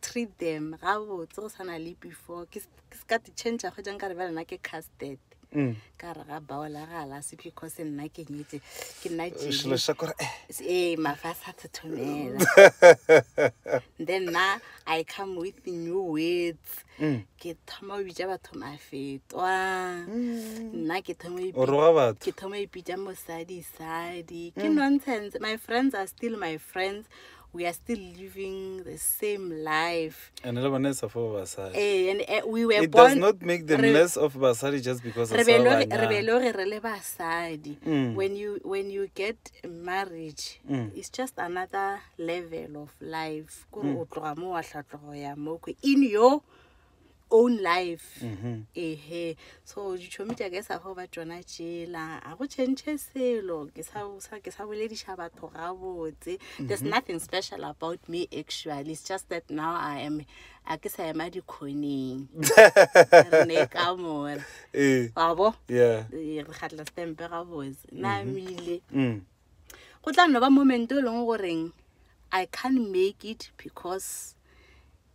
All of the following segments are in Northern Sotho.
treat them ga botse go sana le before ke se ka di-change go jang ka re ba lena ke casted mm. ka re ga baola ga la se because nna ke nyetse ke nna jele ee mafa a sa thethomela then na i come with new words mm. ke thoma o bitsa batho mafetwa mm. nna ke thoma ipitsa mosadisadi ke nonsense my friends are still my friends we are still living the same life and le bone sa for basadi eh and uh, we were it born, does not make them re, less of basadi just because re be lo re re le basadi mm. when you when you get marriage mm. it's just another level of life kore mm. o tloga mo wa tlhatlogo ya mo in your own life ehe so ditšhomi tša ka e sa go ba tsona tšela a go change selo ke sa o sa- ke sa bolediša batho gabotse there's nothing special about me actually it's just that now i am a ke sa ema dikgoneng re ne ka mora ee wa bo yeah Eh, re kgatla stempe gabotse na mile mm. go tla no ba moment o e leng goreng i can't make it because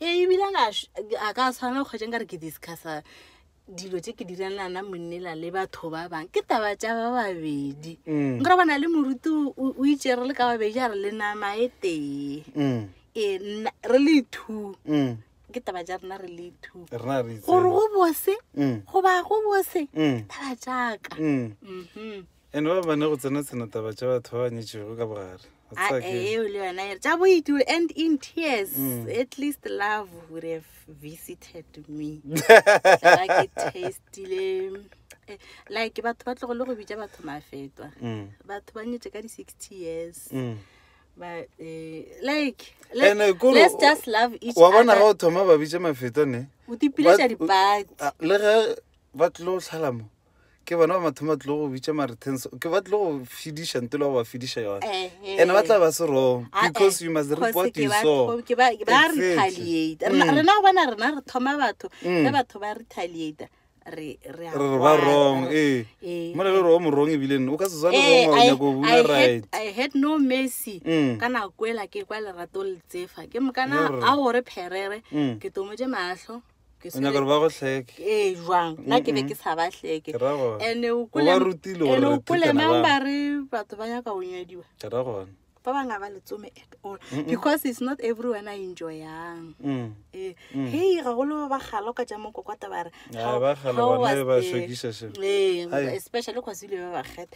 ee ebile a ka š- a ka tshwana go kgwetšeng ka re ke discussa dilo tse ke direlana monnela le batho ba bangwe ke taba tša ba babedi Mm. nkore bona le moruti o- o o itše re le ka babedi a re le nama e tee Mm, ee nna- re le two mm. ke taba tša rena re le two rena re gore itseng. go bose Mm, go ba go bose mm, taba jaaka mm. Mhm. And ba bane go tsena tsena taba tša batho ba ba nyetšego ka bogare. O tseba Ae, ke- eo le yona e re tša boit will end in tears Mm. at least love would have visited me Tla ke tastile Eh, like batho ba tlogole go bitša batho mafetwa Mm, batho ba nyetše ka di-sixty years mm. but eh, like let, Ene kore let's o- just love each wa bona ga other o thoma ba bitše mafeto ne o tipiletša ba- dipati Ah, le ge ba tlilo go tlhalamo ke bona ba mathomo ba tlile go bitša marethens ke ba tlile go fediša nto le go ba fediša yone and ba tla ba se wrong ah, eh, because you must report you saw ba retaliate mm. rena go bona rena re thoma batho mm. ge batho ba retaliate re ba wrong ee eh. mo le le gore o morong ebile o ka se swane eh, gonyako bula right i had no mercy mm. ka nako ela ke kwa lerato letsefa ke mokana a gore pherere ke tomotse matlho Ke o nyaka gore ba go hleke ee jwang nna ke be ke sa ba hleke ke ra gona ene o o ba rutile gore re thekana mang bang ba re batho ba nyaka go nyadiwa ke ra gona ba bangwe ga ba letsome at all because it's not everyone a enjoyang Mm. Eh, hei gagolo ba galo ka tša mokokota ba re Ai, how- ba galo how bona was ba the- shwekiša seo. Ee, Ai. especially cause ile ba bakgetha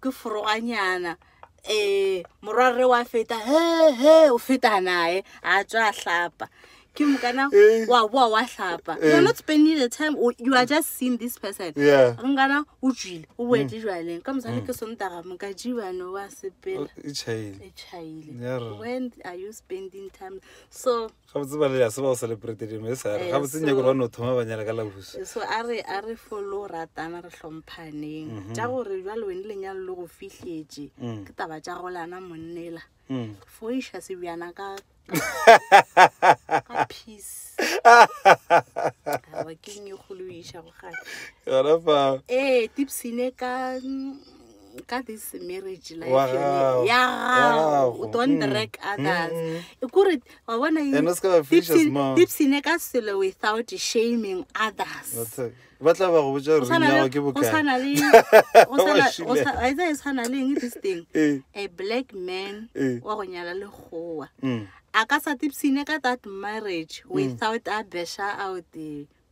ke foroganyana um morwarre wa feta he he o feta naye a tswa a hlapa ke mokana Eh. wa boa wa hlapa Eh. you're not spending the time o- you are just seeing this person Yeah. Mm. nkana o tswile o boetse jwaleng ka mosadi ke sontaga moka jibane wa sepela Oh, e chaile. e chaile Yer. when are you spending time so gabotse ba lela se ba go celebrate dino e sare gabotse nyako gore ba no thoma ba nyala ka labuso so a re a re folo ratana re hlomphaneng mhm. tša gore jalo wene lenyalo le go fihletše mm. ke taba tša go lana monnela mm. fo iša sebjana ka peace ke nnyegolo iša go gana ee tipsine ka ka this marriage life Wa yone, gago. ya Ya gago gago. o don't Mm. drag others Mm. e kore wa bona eng? And o se ka ba fisa Tipsy- small. tipsy ne ka selo without shaming others ba tla ba go botsa Go gore tshwana ring ya le- gago ke go bokae tshwana le- go Wa tshwana- šila. go tshwa- wa itse e tshwana le eng this thing Eh, a black man Eh. wa go nyala lekgowa mm. a ka sa tipsine ka that marriage without a besha out eh,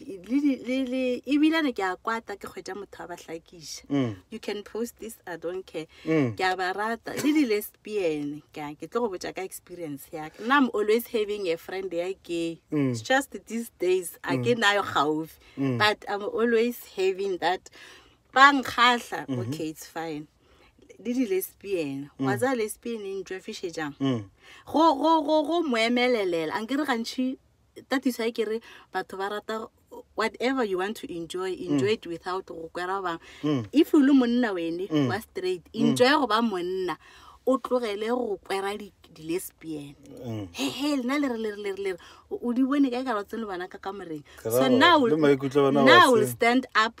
ebilane ke a kwata ke kgwetša motho wa ba hlakiša mm. you can post this i don't care mm. ke a ba rata le di-lesbian ka ke tlo go botša ka experience yaka nna am always having a friend ya gay mm. it's just these days a ke nayo gaufi but i'm always having that ba nkgatlha mm-hmm. okay it's fine le di-lesbian wa tsa lesbian e ntšwefišetšang go moemelelela a nkere gantšhi that is why ke re batho ba rata whatever you want to enjoy enjoy it without go kwera ba bangwe if o le monna wene wa straight enjoy go ba monna o tlogele go kwera di- di-lesbian hehe lena le re le re le re le re o- o di bone ka e ka rotseng le bona ka kamoreng Ka so ra- now le maikutlo a bona wa now will se- stand up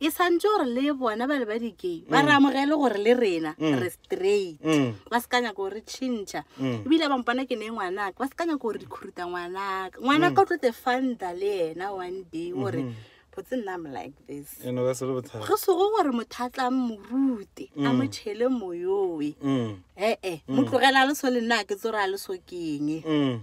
e santse gore le bona bale ba dikei ba re amogele gore le rena re straight Mm. ba se ka nyaka gore re tšhintšha Mm. ebile ba mpona ke ne ngwanaka ba se ka nyaka gore di khuruta ngwanaka ngwanaka o tlo te fanta le ena one day gore botse nna am like this e no ka se le bothata go sego gore motho a tla morute a mo tšhele moyoe Mm. ee mo tlogela a le so le nna a ke tsore a le so keng Mm.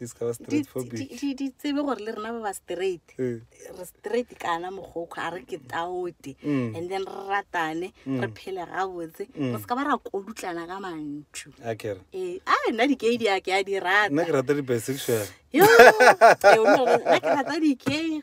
di se ka ba di straight for di- big di- di tsebe gore le rena ba ba straight Eh. re straight kana mogokgo a re ke taote Mm. and then re ratane re phele gabotse re se ka ba ra kodutlana ka mantšu a kere ee a nna dikei di a ke a di rata nna ke rata di-bisexual Yo, ee, o no re- nna ke rata dikei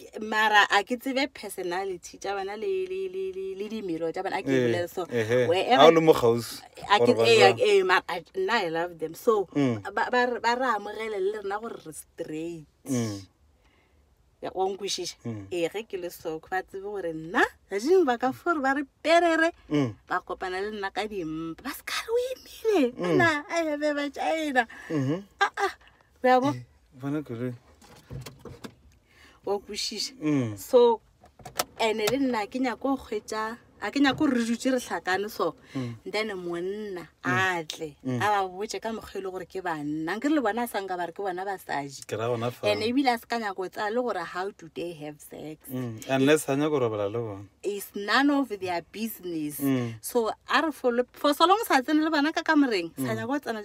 Ke- mara a ke tsebe personality tša bona le, le, le, le, le dimelo tša bona a ke Eh, bolele so ehe. wherever- Ha o le mo kgauswi, a ke- gore ba ee, jwang. ee, mara I- nna i love them so Mm. ba ba re ba re amogele le rena gore re straight Mm. Ya- wa nkwešiša Mm. ee ge ke le soko ba tsebe gore nna gadimo ba ka fore ba re perere Mm. ba kopana le nna ka dimpa ba se ka re o imile ana a ebe ba china Mhm. aa yabo eh, bona kere wa kwešiša mm. so ene le nna ke nyako go kgwetsa a ke nyako gore re dutse re tlhakane so mm. then monna mm. a tle mm. a ba botse ka mokgwa e le gore ke banna nke re le bona a sanka ba re ke bona basadi and ebile a se ka nyako tsaya le gore how do they have sex unless a nyako robala le bone is none of their business so a re for so long sa tsene le bana ka kamoreng sa nyako tsena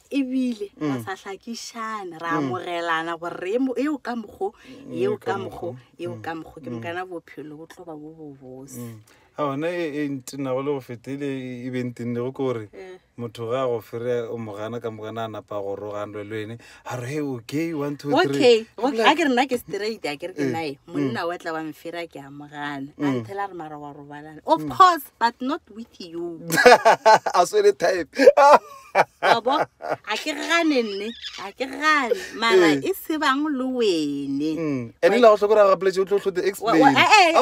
ebile ra sa hlakišane ra amogelana gore re emo- eo ka mokgo eo ka mokgo eo ka mokgo ke mokana bophelo bo tlo ba bo bobose a gona e e ntenago le go fetele e be ntennego ke gore Eh. motho ga a go fere o mo gana ka mokana a napa go roganlwe le wene a re he okay one two okay three okay, a ke re nna ke straight a ke re ke nae monna wa tla wa mfera ke a mogana a nthela re mara wa robalana of course but not with you a swere type abo a ke gane nne a ke gane mara eh. e se bang le wene mm. ene la go tlhokora ga poletse o tlo tlhote explainmaybe eh,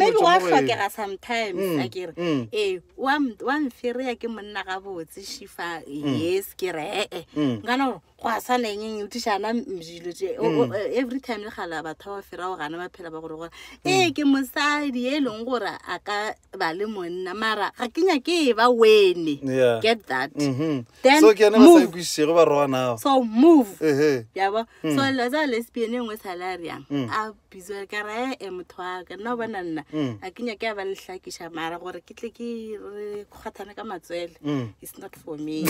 eh, wa tlhokega sometimes mm, a kere mm. ee wa mfereya ke monna gabotse shifa yes ke re ee nkana gore go a sa lengeng tišana dilo tse o- o- eh, every time le gala batho ba ba firago gana ba phela ba gore gore ee ke mosadi e leng gore a ka ba le monna mara ga ke nyake e ba wene Yeah. get that Mhm. Then so ke yone ba sa move. ikwisisego ba roganao so move ehe yabo so la tsa lesbian e nngwe salariang Mm. a bizwa ka ra e motho wa ka nna o bona nna Mm. a ke nyake ya ba lehlakiša mara gore ke tle ke re kgwathane ka matswele Mm. it's not for me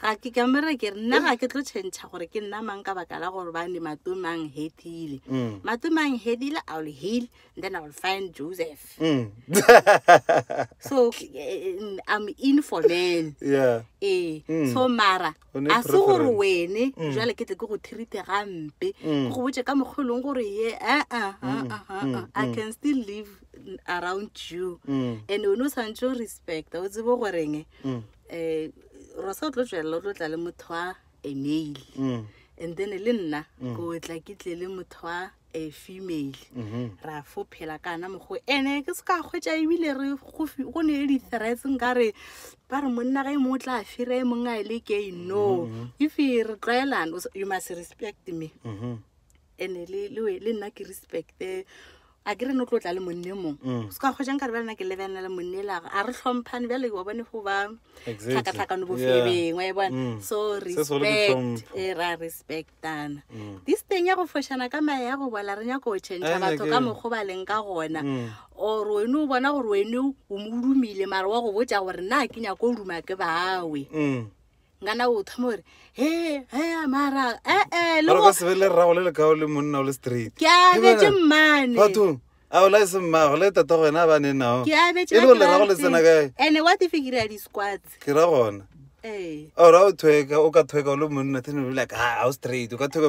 ga ke ka mere ke re nna ga ke tlo tšhentšha gore ke nna mang ka baka la gore bane matomang hedile Mm. matomang hedile i will heal and then i will find joseph Mm. so eh, eh, i'm in for men yeah ee Mm. so mara O ne a se gore preference. wene Mm. jale ke tle ke go thirite gampe ke Mm. go botse ka mokgwa e leng gore ye aa aa, Mm, aa, aa, mm, i mm. can still live around you Mm. and o ne o santse o respecta o tsebo goreng Mm. um rosa o tlo tswelela o tlo tla le motho wa a male Mm. and then le nna ko tla ke tle le motho wa a female Mhm. ra fo phela ka ana mokgo ene ke se ka kgwetsa ebile re go fi- go ne le di-threats nka re ba re monna ga e mongwe o tla fira e mongwe a e le kei no if re tlwaelane o s- you must respect me Mhm. ene le le we- le nna ke respect eh, a ke re no tlo tla le monne mong Mm. se ka kgwetsa nka re bjale nna ke lebelela le monne elago a re tlhomphane bjale wa bone go ba Exactly. tlhakatlhakano Yeah. bofereng wa e bona Mm. so Se segolo ke respect tlhompho. e ra respectana Mm. this thing ya go fošana ka mae ya go bola re nyako go Eh, change batho ke- ka mokgo ba leng ka gona Mm. or wene o bona gore wene o mo dumile mara wa go botsa gore na ke nyako o duma ke bawe Mm. ngana o thoma gore he he mara ee le go se be le rrago le lekao le monna o le straight ke abetse mmane batho a o lae se mmago le tata go wena a ba ne nao ke abetse e le go le rrago le tsena kae ene wa tife ke rea di-squats ke ra gona ee ora o thweka o ka thweka o le monna thene o le ka a o straight o ka thweka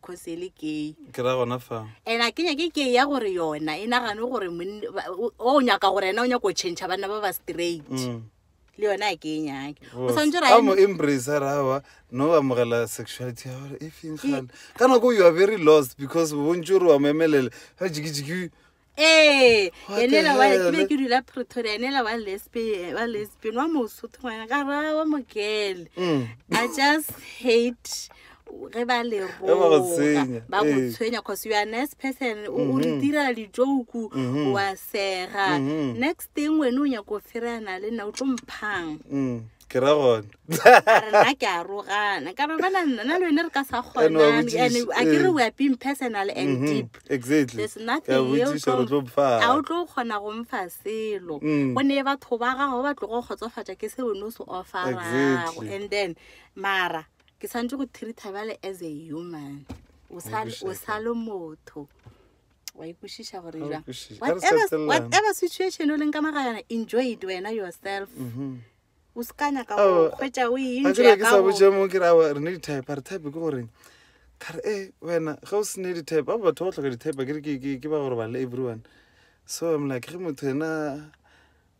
kgosi e le kei ke ra gona fa and a kenya ke kei ya gore yona e nagane gore o nyaka gore ena o nyaka go change banna ba ba straight mm. le yone a ke e nyake o santse ra mo embrace ra ba no ba mogela sexuality ya gore e feng gale ka nako you are very lost because bontsi gore wa mo emelele ga jikijiki ee enela wa ke be ke dula pretoria enela wa lesbian wa lesbian wa mosotho ngwana ka ra wa mogele mm. i just hate ge ba le roga ba go eh. tshwenya cause you are nice person o mm-hmm. re direla dijoku mm-hmm. wa sega mm-hmm. next thing wene o nyako fereana le nna o tlo mphang mm. ke ra gona a re na ke a rogana ka ba bana nna le wene re ka sa And wa kgonane botsiša, ande a ke re eh. we are being personal and Mhm, deep exactly there's Ke a nothing eo botsiša gore o tlo tlo- mpha a o tlo kgona go mfa selo Mm. go ne batho ba gago ba tlogo kgotsofatša ke seo ne o se offerago Exactly. and then mara ke santse go treata bjale as a human o sa- Obviously. o sa le motho wa ikwešiša gore Ga o jwang. kwešiše. A re Whatever- setelelane. whatever situation o leng ka magayana enjoy it wena yourself Mhm. o se ka nyaka Ao, go kgwetša o e a ke re ke sa botše mo ke re awa re ne di-type a re type ke goreng ka re e wena ge o sene di-type ba batho ba go tlhoka di-type ke re ke- ke- ke ba gore bale everyone so I'm like ge motho ena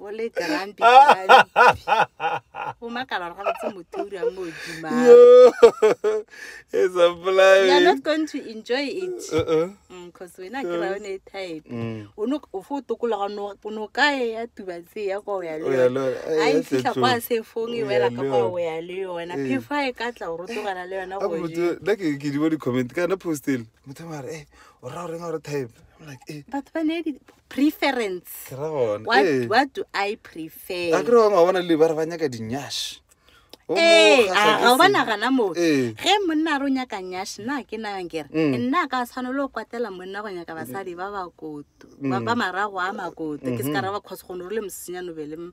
o le grumpy o makala gore ga botse motho o dirang mo odima you are not going to enjoy it because uh-uh. mm, wena ke ra yone e type mm. o no o fo tokologa o no ka e ya tuba tse ya kwa o ya le yone a e fitlha kwa se fong e wela ka kwa o ya le yona eh. phefo a e ka tla o rotogela le yona go nna ke di bo di-comment kana postele motho mare e eh, o ra o reng gore type I'm like, eh, batho ba ne di preference ke ra gone. what, Eh, what do i prefer a ke re bangwe ba bona le ba re ba nyaka dinyash O mo ee kgahla a ke ga o ba se- nagana moo Ee. ge monna a re o nyaka nyash nna ke nayang kere Mm. nna ka tshwanelo o kwatela monna go nyaka basadi ba bakoto ba Mm. ba marago a makoto ke se ka raba cause gone o le mosenyano be le m-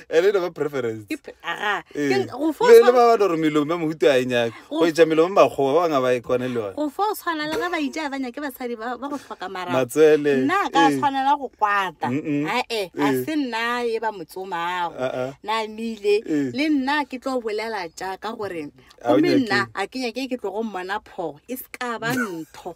ene e lego preference Ip- aga, Ee. ke- go fo- le le ba ba doro melomo ya mohuto a e nyake go etša melomo e makgowa ba bangwe ba e kwane le yone go fo tshwana le ge ba itša ba nyake basadi ba ba go hloka marago matswele nna a ka ee. tshwanela go kwata Mm-mm. ae a Ee. se nna e ba motsomago Ah, ah. na mile Ee. le nna ke tlo bolela jaaka gore A o gomme nyake. nna a ke nyake ke tlogo mmona phogo e se ka ba ntho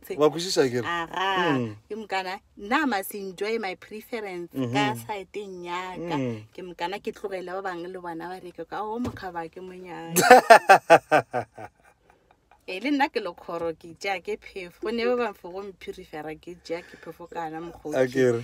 wa kwešiša kere aga mm. ke mokana nna must enjoy my preference mm -hmm. ka saeteng yaka mm. ke mokana ke tlogele ba bangwe le bona ba reke ka o mokgaba ke monyana e le nna ke lekgoro ke tea ke phefo ne ba bangwe fo go mphirifera ke tea ke phefo kana mokgoke